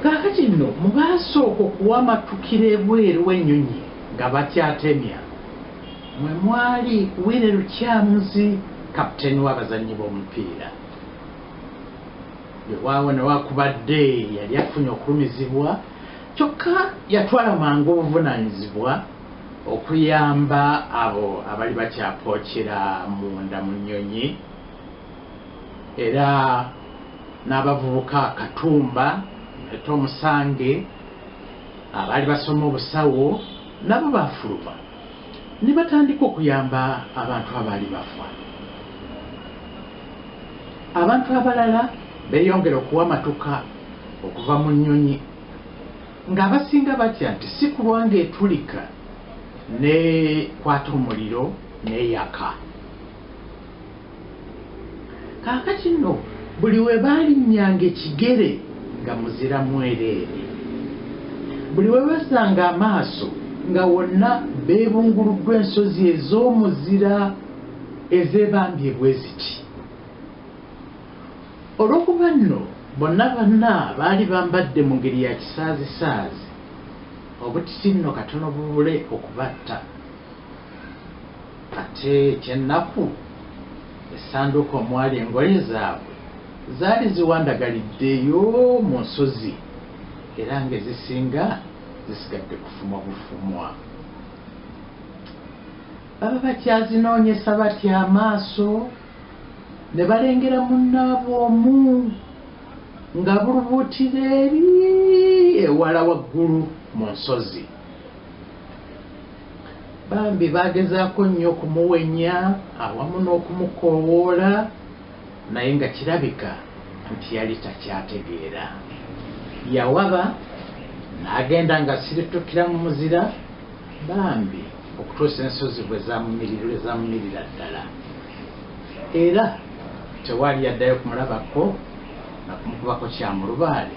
kaakati nno mu baasooka okuwamatukira ebweru w'ennyonyi nga bakyatemya mwe mwali Willy Lukyamuzi kapiteeni w'abazannyi b'omupiira wewaawo newakubadde yali afunye okulumizibwa kyokka yatwala mangu obuvunaanyizibwa okuyamba abo abali bakyapookera munda mu nnyonyi era n'abavubuka katumba nete omusange abaali basoma obusawo nabo baafuluma ne batandika okuyamba abantu abaali bafa abantu abalala beeyongera okuwa matuka okuva mu nnyonyi Ng'abasinga batya nti si kulwa ng'etulika n'ekwata omuliro n'eyaka. Kaakati nno buli we baalinnyanga ekigere nga muzira mwereere, buli we bassanga amaaso nga wonna beebunguluddwa ensozi ez'omuzira ezeebambye bwe ziti. Olw'okuba nno bonna banna baali bambadde mu ngeri ya kisaazisaazi, obutiti nno katono bubule okubatta. Ate eky'ennaku, essanduuko omwali engoye zaabwe zaali ziwandagaliddeyo mu nsozi era ng'ezisinga zisigadde kufumwa bufumwa. Baba bakyazinoonyesa batya amaaso? Ne balengera munnaabwe omu ng'abulubuutira eri ewala waggulu mu nsozi. Bambi baagezaako nnyo okumuwenya awamu n'okumukoowoola naye nga kirabika nti yali takyategeera. Yawaba n'agenda ng'asiritukira mu muzira bambi. okutuusa ensozi bwe zamunyirira ddala era tewaali yaddayo kumulabako nakumukubako kyamulubaale